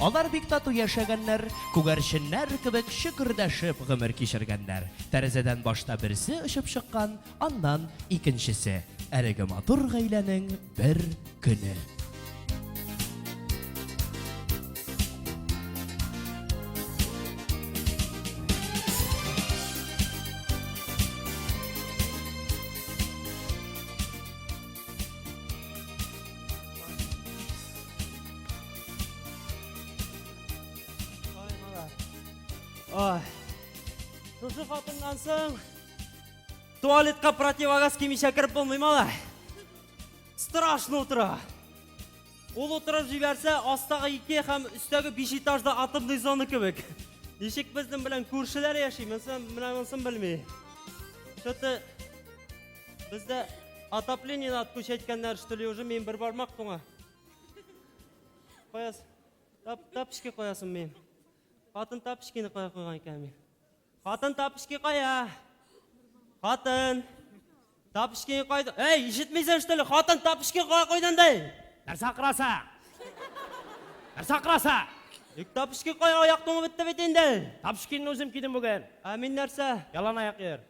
Алар бик тату яшәгәннәр, күгәрченнәр кебек чөкердәшеп гомер кичергәннәр. Тәрәзәдән башта берсе очып чыккан, аннан, икенчесе. Әлеге матур гаиләнең бер көне. Ой. Шушы хатыннан соң туалетка противогаз кимичә кереп булмый малай. Страшно утыра. Ул утырып җибәрсә, астагы ике һәм өстәге биш этажда атомный зона кебек. Ничек безнең белән күршеләр яши, менсен, менә монсын белми. Что-то бездә отопление надо включать кәннәр, что ли, уже мин бер бармак туңа. Каяс, тап, тапочки каясын мин. Хатын тапочкины кая куйган икән мин. Хатын тапочки кая? Хатын. Тапочкины кайда? Эй, ишетмисең что ли? Хатын тапочки кая куйдың ди? Нәрсә акыраса? Нәрсә акыраса? Ик тапочки кая аяк туңып бетте бит инде. Тапочкинны үзем кидем бүген. Ә мин нәрсә? Ялан аяк йөр.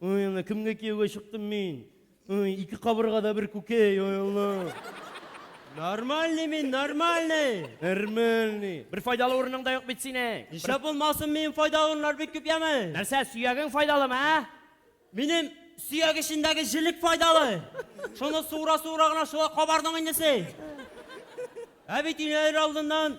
Ой, ана, кемгә кияүгә чыктым мин? Ой, ике кабыргада бер күкәй, ой, Алла. Нормальный мин, нормальный. Нормальный. Бер файдалы урының да юк бит синең. Нишләп булмасын, минем файдалы урыннар бик күп яме. Нәрсә, сөягең файдалымы, ә? Минем сөяк эчендәге җелек файдалы. Шуны суыра-суыра гына шулай кабардың инде син. Ә бит инәләр алдыннан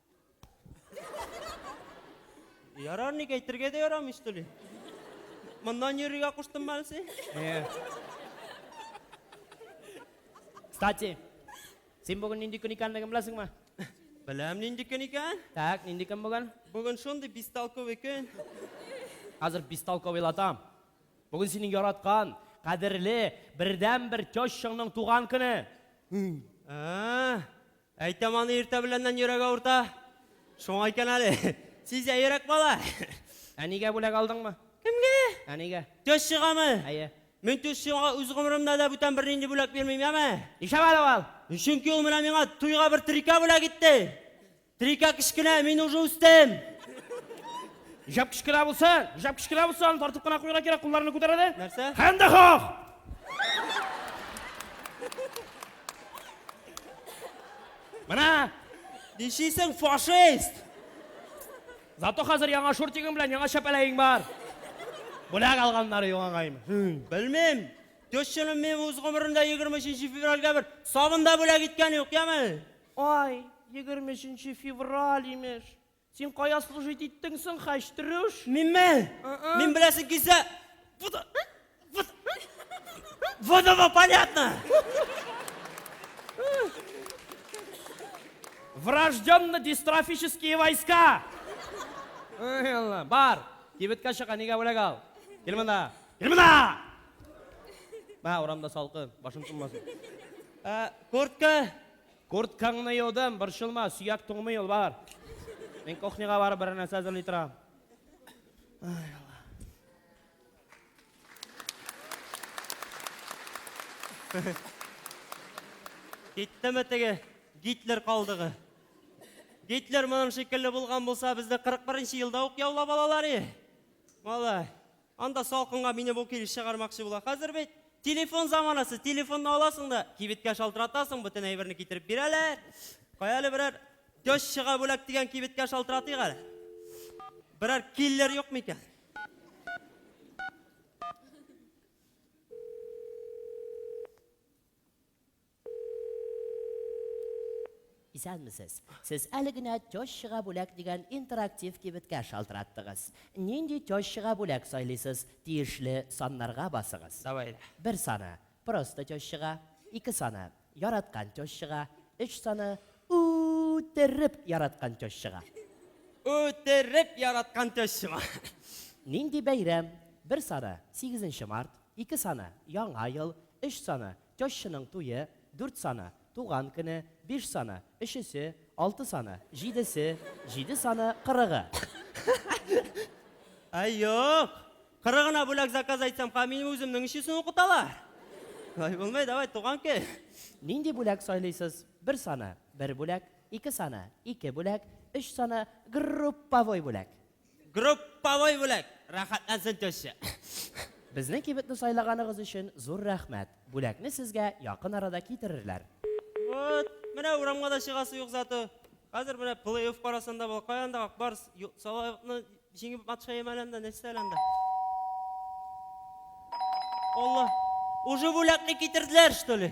Ярар, ник әйтергә дә ярамый, что ли? Моннан йөрергә куштым әле син? Э. Кстати, син бүген нинди көн икәнлеген беләсеңме? Беләм нинди көн икән? Так, нинди көн бүген? Бүген шундый бестолковый көн. Хәзер бестолковыйлатам. Бүген синең яраткан, кадерле, бердәнбер тещаңның туган көне. Ә, Әйтәм аны иртә беләннән йөрәк авырта. Шуңа икән әле. Сизә йөрәк бала. Әнигә бүләк алдыңмы? Кемгә? Әнигә. Төз чыгамы? Әйе. Мин төз чыгуга үз гомеремдә дә бүтән бернинди бүләк бирмим, яме? Нишләп әле ул? Чөнки ул менә миңа туйга бер трика бүләк итте. Трика кечкенә, мин уже үстем. Нишләп кечкенә булсын? Нишләп кечкенә булсын? Аны тартып кына куярга кирәк, кулларны күтәрә дә. Нәрсә? Хәндәхах! Менә! Ничисең, фашист! Зато хәзер яңа шортигың белән яңа чәпәләең бар. Бүләк алганнары югагайм. Белмим. Төшченем мин үз гомерендә 23 февральгә бер сабын да бүләк иткән юк, яме? Ай, 23 февраль имеш. Син кая служить иттең соң, хәчтрүш? Минме? Ы-ы. Мин беләсең килсә, вот, вот, вот оно понятно! Врожденный дистрофические войска! Ай, Аллам, бар, кибеткә чык, әнигә бүләк ал. Кил монда, кил монда! Мә, урамда салкын, башың тынмасын. Ә, куртка, Курткаңны юдым, борчылма, сөяк туңмый ул, бар. Мин кухняга барып берәр нәрсә әзерли торам. Ай, Алла. Киттеме теге Гитлер калдыгы? Гитлер моның шикелле булган булса, безне 41 нче елда ук яулап алалар и. Малай. Анда салкынга мине бу килеш чыгармакчы була. Хәзер бит телефон заманасы, телефонны аласың да, кибеткә шалтыратасың, бөтен әйберне китереп бирәләр. Кая әле берәр көч чыга бүләк дигән кибеткә шалтыратыйк әле. Берәр киллер юк микән? Исәнмесез! Сез әле генә Тещага бүләк дигән интерактив кибеткә шалтыраттыгыз. Нинди тещага бүләк сайлыйсыз, тиешле саннарга басыгыз. Давай әле. Бер саны, Просто тещага, ике саны, Яраткан тещага, өч саны, Ү-ү-үтереп яраткан тещага. Ү-ү-үтереп яраткан тещама. Нинди бәйрәм? Бер саны, Сигезенче март, ике саны, Яңа ел, өч саны, Тещаның туе, дүрт саны, туган көне, биш саны, өчесе, алты саны, җидесе, җиде саны, кырыгы. Ай, юк! Кырыгына бүләк заказ әйтсәм, ха минем үземнең өчесен укыталар. Ай, булмый, давай, туган көн. Нинди бүләк сайлыйсыз? Бер саны, бер бүләк, ике саны, ике бүләк, өч саны, групповой бүләк. Групповой бүләк! Рәхәтләнсен теща! Безнең кибетне сайлаганыгыз өчен зур рәхмәт! Бүләкне сезгә якын арада китерерләр. Вот, менә урамга да чыгасы юк зато. Хәзер менә плей-офф карасын да була. Каян да Ак Барс Салавыкны җиңеп матчаем әле анда, нәрсә әле анда? Алла, уже бүләкне китерделәр, что ли?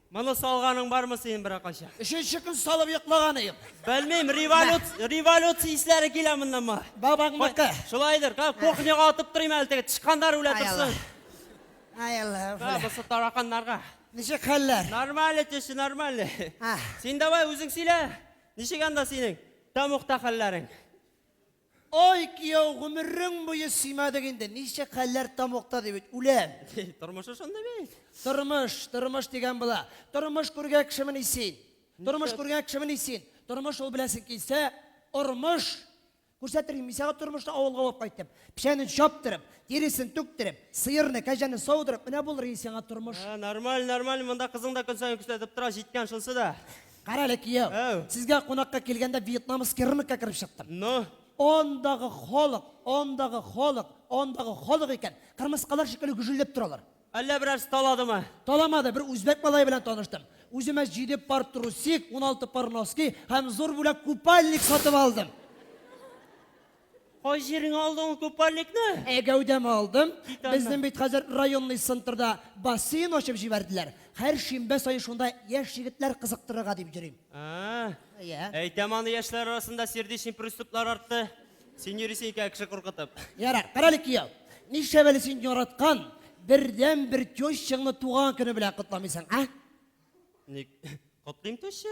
Моны салганың бармы синең беракайчан? Өченче көн салып йоклаган идем. Белмим, революция, революция исләре килә моннан моңа. Бабаңныкы. Шулайдыр, ка, кухняга атып торыйм әле теге тычканнар үлә Ай Алла. торсын. Ай Алла. Ка, фәлән. бусы тараканнарга. Ничек хәлләр? Нормально, теща, нормально. А. Син давай үзең сөйлә. Ничек анда синең тамукта хәлләрең? Ай, кияү, гомерең буе сыймадык инде, ничек хәлләр тамукта дип бит үләм. Тормышы шундый бит. Тормыш, тормыш дигән була. Тормыш күргән кешемени син? Тормыш күргән кешемени син? Тормыш ул беләсең килсә, ормыш. Күрсәтер идем мин сиңа тормышны авылга алып кайтып. Печәнен чаптырып, тиресен түктереп, сыерны, кәҗәне саудырып, менә булыр иде сиңа тормыш. Нормаль, нормаль, монда кызың да көн саен күрсәтеп тора, җиткән шунсы да. Кара әле, кияү. Әу. Сезгә кунакка килгәндә вьетнамский рынокка кереп чыктым. Ну, Андагы халык, андагы халык, андагы халык икән. Кырмыскалар шикелле гөжелләп торалар. әллә берәрсе таладымы? Таламады, бер үзбәк малае белән таныштым. Үземә җиде пар трусик, уналты пар носки һәм зур бүләк купальник сатып алдым. Кай җиреңә алдың ул купальникны? Ә гәүдәмә алдым. Безнең бит хәзер районный центрда бассейн ачып җибәрделәр. Һәр шимбә саен шунда яшь егетләр кызыктырырга дип йөрим. Ә-ә. Әйтәм аны, яшьләр арасында сердечный приступлар артты. Син йөрисең икән кеше куркытып. Ярар, карале кияү. Нишләп әле син яраткан бердәнбер тещаңны туган көне белән котламыйсың, а? Ник котлыйм теща?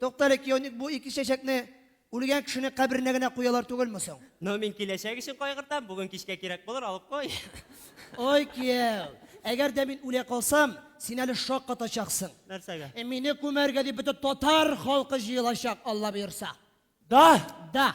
Туктале, кияүник, бу ике чәчәкне үлгән кешенең каберенә генә куялар түгелме соң? Ну, мин киләчәк өчен кайгыртам, бүген кичкә кирәк булыр, алып кой. Ой, кияү, әгәр дә мин үлә калсам, син әле шок катачаксың. Нәрсәгә? Мине күмәргә дип бөтен татар халкы җыелачак, Алла боерса. Да? Да.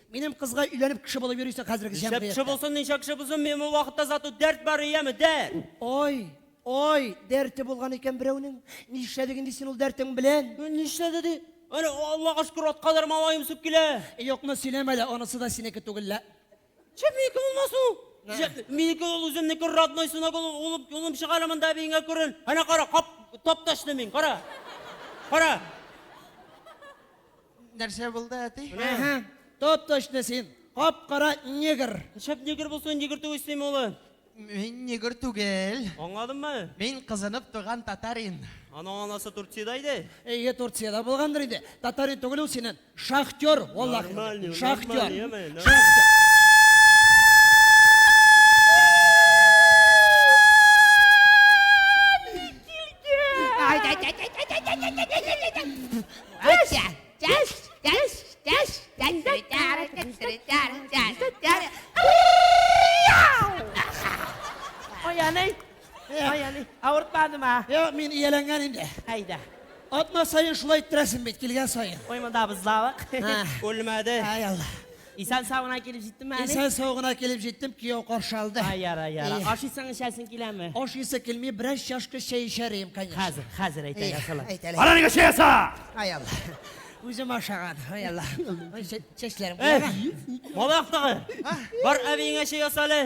Минем кызга өйләнеп кеше булып йөрисең хәзерге Ничә кеше җәмгыятьтә. булсын, ничә кеше булсын, мин ул вакытта зату дәрт бар, яме, дәрт! Ой, ой, дәрте булган икән берәүнең. Нишләде инде син ул дәртең белән? Ну, Нишләде ди? Әнә, Аллага шөкер, атка да малаем үсеп килә. Юкны сөйләмә лә, анысы да синеке түгел лә. Чеп минеке булмасын ул. Нә. Чеп, Минеке ул үземнеке родной сынок ул, улым, улым чыга әле монда әбиеңә күрен. Әнә кара, кап, тапташны мин, кара. Кара. Нәрсә булды, әти? Әһә, топ-точно син. Кап-кара негр. Шәп негр булсын, негр түгел син улы. Мин негр түгел. Аңладыңмы? Мин кызынып туган татарин. Аның анасы Турцияда иде. Әйе, Турцияда булгандыр инде. Татарин түгел ул синен. Шахтер, валлахи. Нормальный, Шахтер. нормальный, яме, нормальный. Шахтер. Oyanay. Oyanay. Авыртмады ма? Йо, мин ияләнгән инде. Әйдә. Атма сайын шулай иттерәсең бит, килгән сайын. Ой, монда быз завык. Үлмәде. Ай, Алла. Исән сау гына килеп җиттеме әле? Исән сау гына килеп җиттем, кияү каршы алды. Ай, яра, яра. Ашыйсың, эчәсең киләме? Ашыйсы килми, бераз чашка чәй эчәр идем, конечно. Хәзер, хәзер әйтә ясала. Әйтәле. Ара нигә чәй яса? Ай Алла. Үзем ашаган. Ай Алла. Чәчләрем. Бала яктагы. Бар әбиеңә чәй ясале.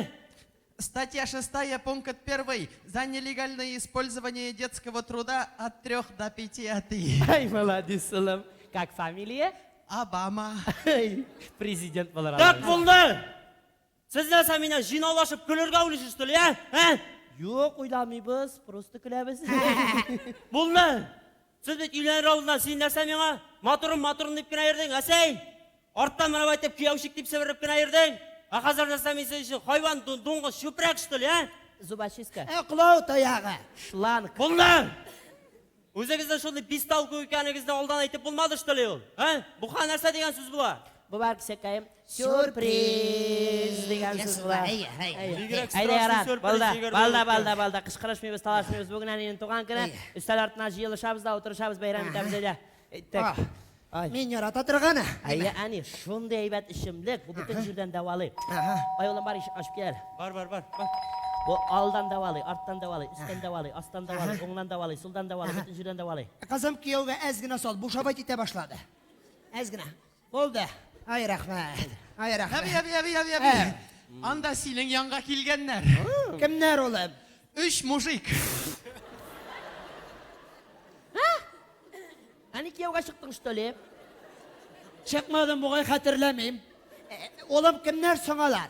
Статья шестая пункт первый за нелегальное использование детского труда от трех до пяти атый. Ай, молодец, улым. Как фамилия? Обама. Ай, президент булыр алар. Как булды? Сез нәрсә мине җыйнаулашып көлергә уйлыйсыз түли, ә? Юк, уйламыйбыз, просто көләбез. Булды. Сез бит өйләнер алдыннан син нәрсә миңа, матурым, матурым дип кенә йөрдең, ә син! Арттан менеп әйтеп, кияүчик дип себереп кенә йөрдең! Ә хәзер нәрсә мин синең өчен, хайван, ду, дуңгыз, чүпрәк, что ли, ә? Зубочистка. Ыклау таягы. Шланг. Булды! Үзегезнең шундый бестолку икәнегезне алдан әйтеп булмады, что ли, ул? Ә? Буха нәрсә дигән сүз була? Була, кесәкәем. Сюрприз дигән сүз була. Әйе, әйе. Бигрәк Әйдә, сорашып Ярат, сюрприз балда, җигәр балда, булып балда, икән. балда, кычкырышмыйбыз, талашмыйбыз. Бүген әнинең туган көне. Әйе. Өстәл артына җыелышабыз да, утырышабыз, бәйрәм Ага. итәбез, әйдә. Әйттек. Ах, Ай. Мин ярата торганы. Әйе, әни, шундый әйбәт эчемлек, бу бөтен җирдән дәвалый. Ага. Ай, улым, бар, ишекне ачып кил. Бар, бар, бар. бар. Бу алдан дәвалый, арттан дәвалый, өстән дәвалый, астан дәвалый, Ага. уңнан дәвалый, сулдан дәвалый, Ага. бөтен җирдән дәвалый. Кызым кияүгә әз генә сал, бушабайт итә башлады. Әз генә. Булды. Ай, рәхмәт. Ай, рәхмәт. Әби, әби, әби, әби, әби. Ә. Анда синең янга килгәннәр. Кемнәр улым? Өч мужик. Әни кияүгә чыктың, что ли? Чыкмадым, бугай хәтерләмим. Улым, кемнәр соң алар?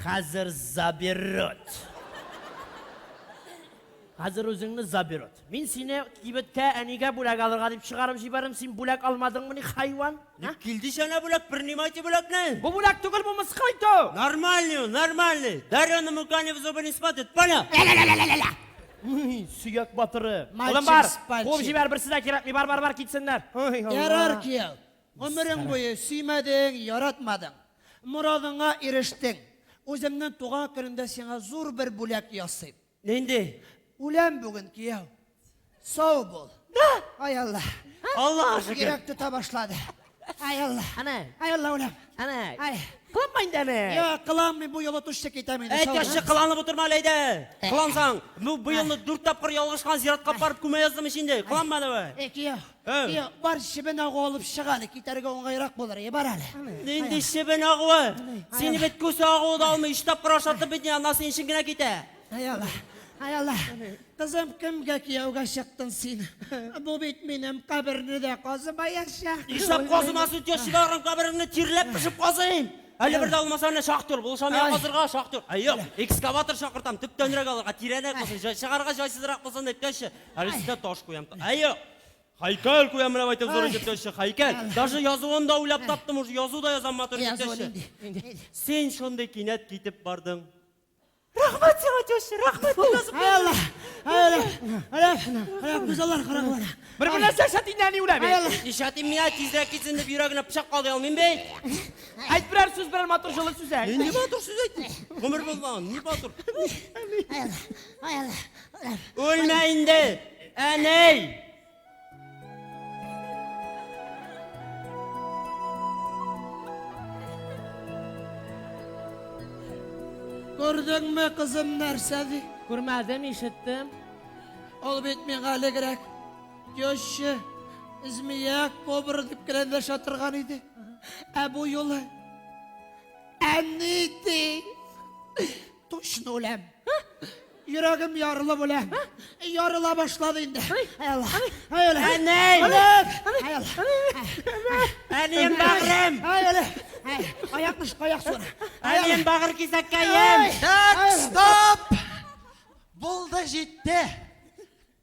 Хәзер заберет. Хәзер үзеңне заберет. Мин сине кибеткә әнигә бүләк алырга дип чыгарып җибәрдем, син бүләк алмадыңмы ни, хайван? Ник килде җана бүләк, принимайте бүләкне! Бу бүләк түгел, бу мыскыл итү! Нормальный ул, нормальный! Дарю на мукане в зубы не смотрит, понял? Ля-ля-ля-ля-ля-ля! Сөяк батыры. Улым бар, куып җибәр, берсе дә кирәкми, бар, бар, бар, китсеннәр. Ярар, кияү. Гомерең буе сөймәдең, яратмадың. Морадыңа ирештең. Үземнең туган көнемдә сиңа зур бер бүләк ясыйм. Нинди? Үләм бүген, кияү. Сау бул. Да! Ай Алла. Аллага шөкер. Йөрәк тота башлады. Ай Алла. Әнә. Ай Алла, үләм. Әнә. Ай. Кыланма инде әнә. Йо, кыланмыйм, бу юлы тушчы китәм инде. Әй, тәшче, кыланып утырма әле әйдә. Кылансаң, бу елны дүрт тапкыр ялгышкан зиратка барып күмә яздым ич инде. Кыланма давай. Әй, кияү. Әй! Йә, бар чебен агу алып чык әле, китәргә уңайрак булыр, йә, бар әле. Нинди чебен агуы? Сине бит күсе агуы да алмый, өч тапкыр ашатып бит, ана синең өчен генә китә. Әй Алла, әй Алла, кызым, кемгә кияүгә чыктың син? Бу бит минем каберне дә казымаячак. Нишләп казымасын, тещаларым кабереңне тирләп пешеп казыйм. Әле бер дә булмаса, менә шактый ул, булышам я казырга, шактый ул. Әй, юк, экскаватор чакыртам, төптәнрәк алырга, тирәнрәк булсын, җай чыгарга җайсызрак булсын, дип, теща. Әле сезгә таш куям. Әйе! Хайкәл куям менә әйтеп зур җитәче, хайкәл. Даже язуын да уйлап таптым, уже язу да язам матур җитәче. Син шундый кинәт китеп бардың. Рәхмәт сиңа, теща, рәхмәт язып бирдең. Әлә, әлә, әлә, күзаллар караган. Бер бер нәрсә шатиннән ни үләбе? Ишатим миңа тизрәк китсен дип йөрәгенә пычак калды алмыйм бей. Әйт берәр сүз, берәр матур җылы сүз әйт. Нинди матур сүз әйт? Гомер булмаган, ни матур. Әлә, әлә. Үлмә инде, әнәй! Күрдеңме, кызым, нәрсә ди? Күрмәдем, ишеттем. Ул бит миңа элегрәк теща, змея, кобра дип кенә дәшә торган иде. Ә бу юлы әни ди. Точно үләм. Йөрәгем ярылып үләм. Ярыла башлады инде. Ай Аллах. Ай Аллах. Әнәй! Аллах. Ай Аллах. Әнием бәгырем! Ай Аллах. Ай, Аякны шука аяк суына. Ай Әнием Аллах. бәгыр кисәккәем! Так, стоп! Булды, җитте.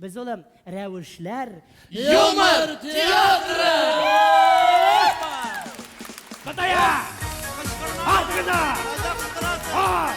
Без улым, рәвешләр. Юмор театры! Кытая! Ат кына! Ат!